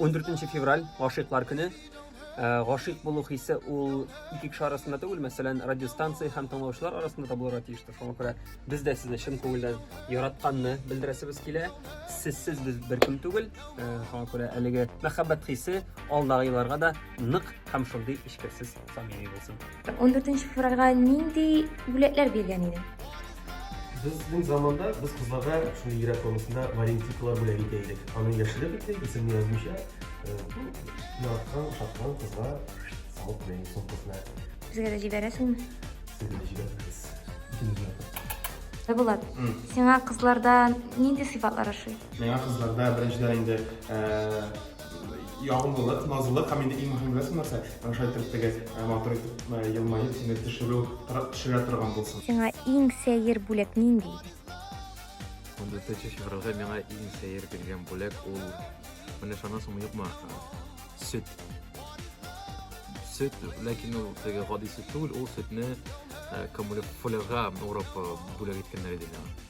14 нче февраль, гашыйклар көне. Ә, Гашыйк булу хисе ул ике кеше арасында түгел, мәсәлән, радиостанция һәм тыңлаучылар арасында да булырга тиештер. Шуңа күрә без дә сезне чын күңелдән яратканны белдерәсебез килә. Сезсез без беркем түгел. Ә, Шуңа күрә әлеге мәхәббәт хисе алдагы елларга да нык һәм шундый эчкерсез самими булсын. 14 февральгә нинди бүләкләр биргән идең? Безнең заманда без кызларга шундый йөрәк формасында валентикалар бүләк итә идек. Аны яшереп итте, исемне язмыйча, яраткан, ошаткан кызга салып куя идек сумкасына. Безгә дә җибәрәсеңме? Сезгә дә җибәрәбез. Булат, сиңа кызларда нинди сыйфатлар ошый? Миңа кызларда беренчедән инде ягымлылык, назлылык һәм инде иң мөһим нәрсә нәрсә, менә шулай итеп теге э, матур итеп э, елмаеп сине төшерү, төшерә торган булсын. Сиңа иң сәер бүләк нинди иде? 14 февральгә миңа иң сәер биргән бүләк ул менә шанасыңмы юкмы сөт сөт ләкин ул теге гади сөт түгел ул сөтне э, фулярга урап бүләк иткәннәр иде миңа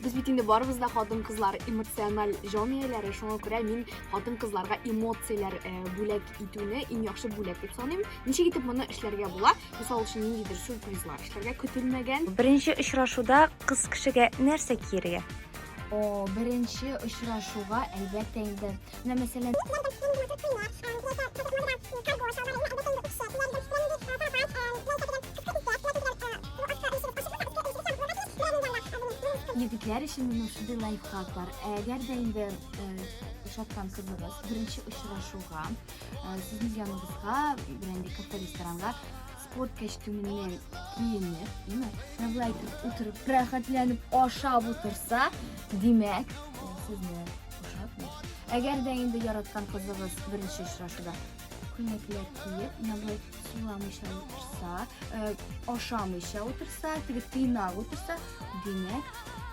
Без бит инде барыбыз да хатын-кызлар эмоциональ җан ияләре, шуңа күрә мин хатын-кызларга эмоцияләр э, бүләк итүне иң яхшы бүләк дип саныйм. Ничек итеп моны эшләргә була? Мисал өчен, ниндидер сюрпризлар эшләргә көтелмәгән. Беренче очрашуда кыз кешегә нәрсә киергә? О, беренче очрашуга әлбәттә инде Менә мәсәлән, Егетләр өчен менә шундый лайфхак бар. Әгәр дә инде ошаткан кызыгыз беренче очрашуга сезнең яныбызга берәндә кафе ресторанга спорт костюмыннан киенеп, имә, навлайтып утырып, рәхәтләнеп ашап утырса, димәк, сезне Ошатмый. Әгәр дә инде яраткан кызыгыз беренче очрашуда күнәкләр киеп, нәбай суламыйча утырса, э, ашамыйча утырса, теге тыйнак утырса, димәк,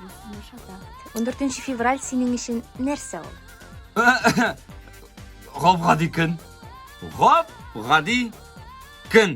бу сынашата. 14 февраль синең өчен нәрсә ул? Гап гади көн. Гап гади көн.